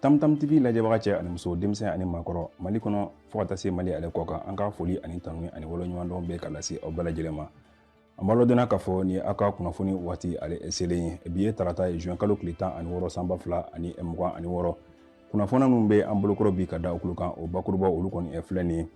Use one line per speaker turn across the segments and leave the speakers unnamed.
tamtam tv lajɛbaga cɛ ani muso denmisɛn ani maakɔrɔ mali kɔnɔ fo ka taa se mali ale kɔ kan an ka foli ani tanuni ani waleɲumandɔn bɛ ka lase aw bɛɛ lajɛlen ma an b'a ladɔnniya k'a fɔ ni aw ka kunnafoni waati ale selen ye bi ye tarata ye juin kalo tile tan ani wɔɔrɔ san ba fila ani mugan ani wɔɔrɔ kunnafoni minnu bɛ an bolokɔrɔ bi ka da aw tulo kan o bakurubaw olu kɔni filɛ nin ye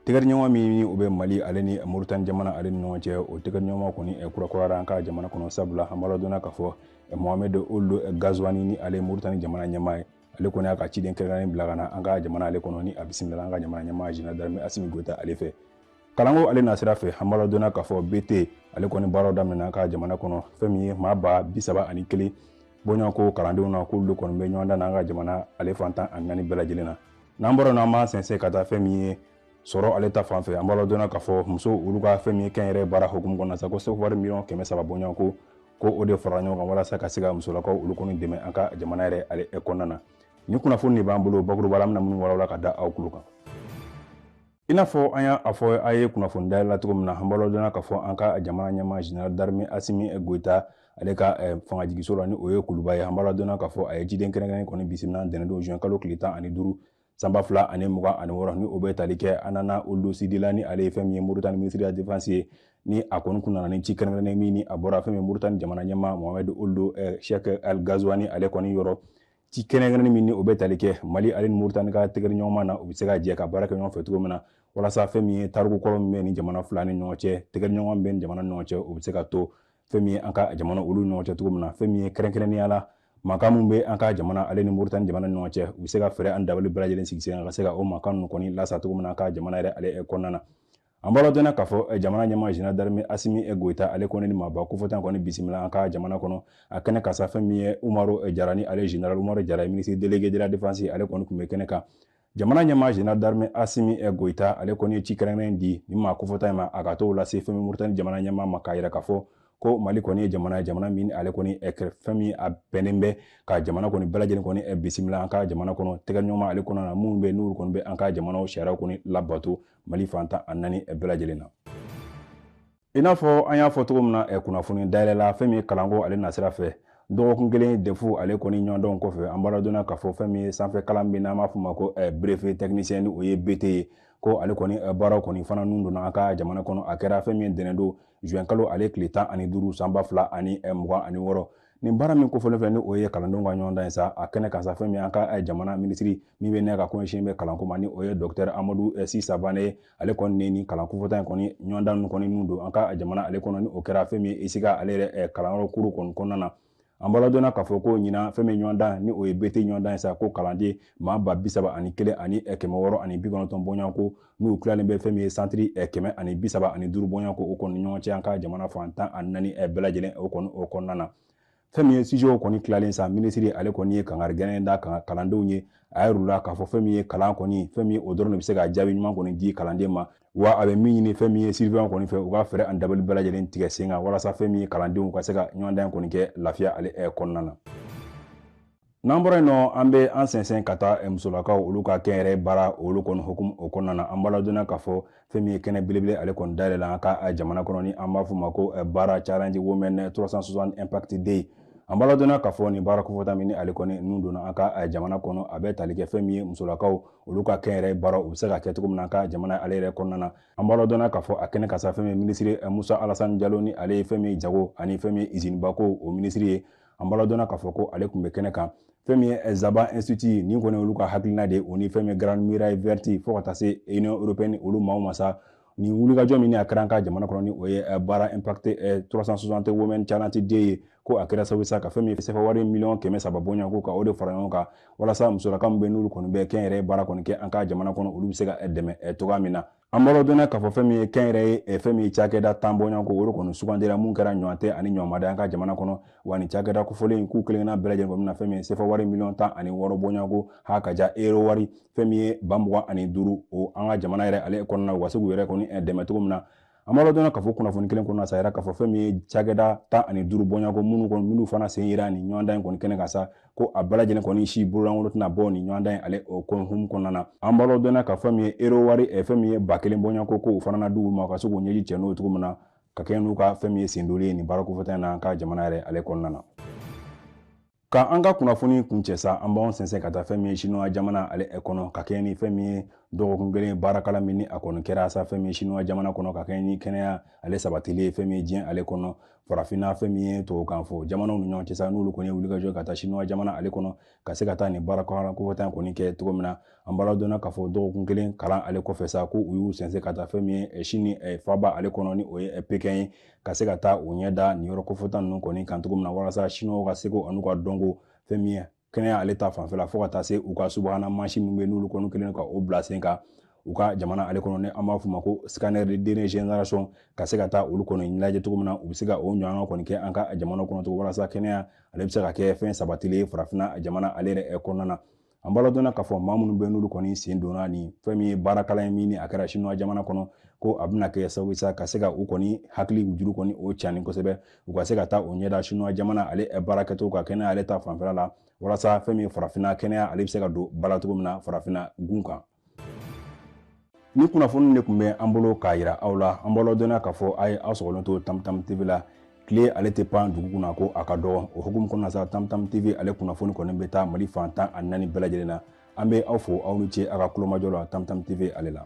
tɛgɛdiɲɔgɔnma min ni o bɛ mali ale ni moritani jamana ale ni ɲɔgɔn cɛ o tɛgɛdiɲɔgɔn kɔni eh, kurakurayara an ka jamana kɔnɔ sabula an b'a ladɔnniya k'a fɔ eh, mohamed ould eh, ghazouani ni ale moritani jamana ɲɛmaa ye ale kɔni y'a ka ciden kɛrɛnkɛrɛnnen bila ka na an ka jamana ale kɔnɔ ni a bisimilala an ka jamana ɲɛmaa general d'armée asimi goyita ale fɛ kalanko ale nasira fɛ an b'a ladɔnniya k'a fɔ bt ale kɔni baaraw daminɛna an ka jamana kɔnɔ fɛn min ye maa ba bi saba ani kelen bɔɲɔgɔnko kalandenw na k'olu kɔni bɛ ɲɔgɔndan na an ka jamana ale fan tan ani naani bɛɛ lajɛlen na n'an bɔra n'an b'an sɛnsɛn ka taa fɛn min ye sɔrɔ ale ta fan fɛ an b'a ladɔnniya k'a fɔ muso olu ka fɛn min ye kɛnyɛrɛye baara hukumu kɔnɔna sa ko sefawari miliyɔn kɛmɛ saba bɔɲɔgɔnko ko o de farala ɲɔgɔn kan walasa ka se ka musolakaw olu kɔni dɛmɛ an ka jamana yɛrɛ ale kɔnɔna na ni kunnafoni de b'an bolo bakuruba la an bɛna minnu walawala ka da aw tulo kan I n'a fɔ an y'a fɔ a ye kunnafoni dayɛlɛ la cogo min na an b'a ladɔnniya k'a fɔ an ka jamana ɲɛmaa general d'armée Asimi Goita ale ka eh, fangajigiso la ni o ye kuluba ye an b'a ladɔnniya k'a fɔ a ye ciden kɛrɛnkɛrɛnnen kɔni bisimila ntɛnɛndon juin kalo tile tan ani duuru san ba fila ani mugan ani wɔɔrɔ ni o bɛ tali kɛ Hanana Ould Sidi la ni ale ye fɛn min ye moritani minisiri de la defense ye ni a kɔni tun nana ni ci kɛrɛnkɛrɛnnen min ni a bɔra fɛn min moritani jamana ɲɛmaa mohamɛd ould eh, cheikh el ghazouani ale kɔni yɔrɔ ci kɛrɛnkɛrɛnnen min ni o bɛ tali kɛ mali ale ni moritani ka tɛgɛdiɲɔgɔnma na u bɛ se ka jɛ ka baara kɛ ɲɔgɔn fɛ cogo min na walasa fɛn min ye tariku kɔrɔ min bɛ ni jamana fila ni ɲɔgɔn cɛ tɛgɛdiɲɔgɔn bɛ ni jamana ni ɲɔgɔn cɛ o bɛ se ka to fɛn min ye an ka jamana olu ɲɔgɔn cɛ cogo min na fɛn min ye kɛrɛnkɛrɛnnenya la mankan min bɛ an ka jamana ale ni moritani jamana ni ɲɔgɔn cɛ u bɛ se ka fɛɛrɛ ani dabali bɛɛ lajɛlen sigi sen ka se ka o mankan ninnu kɔni lasa cogo min na an ka jamana yɛrɛ ale kɔnɔna na an b'a ladɔnniya k'a fɔ eh, jamana ɲɛmaa general d'armée asimi eh, goyita ale kɔni ni maaba kofɔtan kɔni bisimila an ka jamana kɔnɔ a kɛnɛ kan sa fɛn min ye umaru eh, jara ni ale general umaru jara minisiri delege de la defense ale kɔni tun bɛ kɛnɛ kan jamana ɲɛmaa general d'armée asimi goyita ale kɔni ye ci kɛrɛnkɛrɛnnen di ni maa kofɔtan in ma a ka t'o lase fɛn min moritani jamana ɲɛmaa ma k'a yira k'a fɔ ko mali kɔni ye jamana ye jamana min ale kɔni fɛn min a bɛnnen bɛ ka jamana kɔni bɛɛ lajɛlen kɔni bisimila an ka jamana kɔnɔ tɛgɛdiɲɔgɔnma ale kɔnɔna na minnu bɛ n'olu kɔni bɛ an ka jamanaw sariyaw kɔni labato mali fan tan ani naani bɛɛ lajɛlen na i n'a fɔ an y'a fɔ cogo min na eh, kunnafoni dayɛlɛ la fɛn min ye kalanko ale nasira fɛ dɔgɔkun kelen defu ale kɔni ɲɔgɔndan kɔfɛ an b'a ladɔnniya k'a fɔ fɛn min ye sanfɛ kalan min n'an b'a fɔ ma ko eh, brevet technicien ni o ye bt ye ko ale kɔni eh, baaraw kɔni fana nun donna an ka jamana kɔnɔ a kɛra fɛn min ye ntɛnɛndon juin kalo ale tile tan ani duuru san ba fila ani mugan ani wɔɔrɔ nin baara min kofɔlen fɛ ni o ye kalandenw ka ɲɔgɔndan ye sa a kɛnɛ kan sa fɛn min an ka eh, jamana minisiri min bɛ n'a ka ko ɲɛsin bɛ kalanko ma ni o ye dɔktɛr amadu eh, si savane ale kɔni ni nin kalan kofɔta in kɔni ɲɔgɔndan kɔni nun don an ka jamana ale kɔnɔ ni o kɛra fɛn min ye esika ale yɛrɛ eh, kalanyɔrɔ kuru kɔni kɔnɔna na an b'a ladɔnna k'a fɔ ko ɲinan fɛn min ɲɔgɔndan ni o ye bete ɲɔgɔndan ye sa ko kalanden maa ba bisaba ani kelen ani kɛmɛ wɔɔrɔ ani bi kɔnɔntɔn bɔɲɔgɔnko n'u tilalen bɛ fɛn min ye santiri eh, kɛmɛ ani bi saba ani duuru bɔɲɔgɔnko o kɔni ɲɔgɔn cɛ an ka jamana fan tan ani naani eh, bɛɛ lajɛlen o kɔni o kɔnɔna na fɛn min ye sizɛw kɔni tilalen sa minisiri ale kɔni ye kangari gɛlɛn da kan kalandenw ye a yɛrɛ la k'a fɔ fɛn min ye kalan kɔni fɛn min o dɔrɔn de bɛ se ka jaabi ɲuman kɔni di kalanden ma wa a bɛ min ɲini fɛn min ye siriveyan kɔni fɛ u ka fɛɛrɛ ani dabali bɛɛ lajɛlen tigɛ sen kan walasa fɛn min ye kalandenw ka se ka ɲɔgɔndan kɔni kɛ lafiya ale eh, kɔnɔna na n'an bɔra yen nɔ an bɛ an sɛnsɛn ka taa musolakaw olu ka kɛnyɛrɛye baara olu kɔni hukumu o kɔnɔna na an b'a ladɔnna k'a fɔ fɛn min ye kɛnɛ belebele ale kɔni dayɛlɛla an ka jamana kɔnɔ ni an b'a fɔ ma ko baara challenge women 360 impact day an b'a ladɔnna k'a fɔ nin baara kofɔta min ni ale kɔni nun donna an ka jamana kɔnɔ a bɛ tali kɛ fɛn min ye musolakaw olu ka kɛnyɛrɛye baara u bɛ se ka kɛ cogo min na an ka jamana ale yɛrɛ kɔnɔna na an b'a ladɔnna k'a fɔ a kɛnɛ kan sa fɛn min minisiri musa alasani jalo ni ale ye fɛn min jago ani fɛn min izinibako o minisiri ye an b'a ladɔnna k'a fɔ ko ale tun bɛ kɛnɛ kan fɛn min ye zaba institut nin kɔni olu ka hakilina de o ni fɛn min grande muraille verte fo ka taa se union européenne olu maaw ma sa nin wulikajɔ min a kɛra an ka jamana kɔnɔ ni o ye baara impact 360 women challenge day ye ko a kɛra sababu sa ka fɛn min sefa wari miliyɔn kɛmɛ saba bɔɲɔgɔnko ka o de fara ɲɔgɔn kan walasa musolaka min bɛ n'olu kɔni bɛ kɛnyɛrɛye baara kɔni kɛ an ka jamana kɔnɔ olu bɛ se ka dɛmɛ cogoya min na an b'a ladɔnna k'a fɔ fɛn min ye kɛnyɛrɛye eh, fɛn min ye cakɛda tan bɔɲɔgɔnko o de kɔni sugandira min kɛra ɲɔgɔntɛ ani ɲɔgɔnmada an ka jamana kɔnɔ wa nin cakɛda kofɔlen in k'u kelenkelenna bɛɛ lajɛlen bɛna fɛn min ye sefa wari miliyɔn tan ani wɔɔrɔ bɔɲɔgɔnko ha ka ja ero wari fɛn min ye ba mugan ani duuru o an ka jamana yɛrɛ ale kɔnɔna u ka se k'u yɛrɛ kɔni eh, dɛmɛ cogo min na an b'a ladɔnna k'a fɔ kunnafoni kelen kɔnɔna sa yɛrɛ k'a fɔ fɛn min ye cakɛda tan ani duuru bɔɲɔgɔnko minnu kɔni minnu fana sen yera nin ɲɔgɔndan in kɔni kɛnɛ kan sa ko a bɛɛ lajɛlen kɔni si bololankolon tɛna bɔ nin ɲɔgɔndan in ale o hukumu kɔnɔna na an b'a ladɔnna ka fɛn min ye ero wari eh, fɛn min ye ba kelen bɔɲɔgɔnko ko o fana na d'u ma u ka se k'u ɲɛji cɛ n'o cogo min na ka kɛ n'u ka fɛn min ye sendoli ye nin baara kofɔta in na an ka jamana yɛrɛ ale kɔnɔna na ka an ka kunnafoni kuncɛ sa an b'anw sɛnsɛn ka taa fɛn min ye sinuwa jamana ale eh, kɔnɔ ka kɛɲɛ ni fɛn min ye dɔgɔkun kelen baarakalan min ni a kɔni kɛra sa fɛn min ye sinuwa jamana kɔnɔ ka kɛɲɛ ni kɛnɛya ale sabatili ye fɛn min ye diɲɛ ale kɔnɔ farafinna fɛn min ye tubabukan fɔ jamanaw ni ɲɔgɔn cɛ sa n'olu kɔni ye wulikajɔ ka taa sinuwa jamana ale kɔnɔ ka se ka taa nin baara kɔnɔna kofɔta in kɔni kɛ cogo min na an b'a ladɔnna k'a fɔ dɔgɔkun kelen kalan ale kɔfɛ sa ko u y'u sɛnsɛn ka taa fɛn min ye sini faaba ale kɔnɔ ni o ye pekɛn ye ka se ka taa u ɲɛ da nin yɔrɔ kofɔta ninnu kɔni kan cogo min na walasa sinuwaw ka seko an'u ka dɔnko fɛn min ye kɛnɛya ale ta fanfɛla fo ka taa se u ka subahana mansin min bɛ n'olu kɔni kelen ka o bila sen kan u ka jamana ale kɔnɔ ni an b'a f'u ma ko scanner de dernière génération ka se ka taa olu kɔni ɲɛnajɛ cogo min na u bɛ se ka o ɲɔgɔn kɔni kɛ an ka jamana kɔnɔ cogo walasa kɛnɛya ale bɛ se ka kɛ fɛn sabatilen ye farafinna jamana ale yɛrɛ kɔnɔna na an b'aw ladɔnniya k'a fɔ maa minnu bɛ n'olu kɔni sen donna ni fɛn min ye baarakalan ye min ni a kɛra sinuwa jamana kɔnɔ ko a bɛna kɛ sababu sa ka se ka u kɔni hakili juru kɔni o cani kosɛbɛ u ka se ka taa o ɲɛda sinuwa jamana ale baarakɛcogo ka kɛnɛya ale ta fanfɛla la walasa fɛn min farafinna kɛnɛya ale bɛ se ka don ba la cogo min na farafinna gun kan nin kunnafoni de tun bɛ an bolo k'a yira aw la an b'aw ladɔnniya k'a fɔ a ye aw sɔgɔlen to tamtam tv la tile ale tɛ pan dugu kunna ko a ka dɔgɔ o hukumu kɔnɔna sa tamtam tv ale kunnafoni kɔni bɛ taa mali fan tan ani naani bɛɛ lajɛlen na an bɛ aw fo aw ni ce a ka kulomajɔ la tamtam tv ale la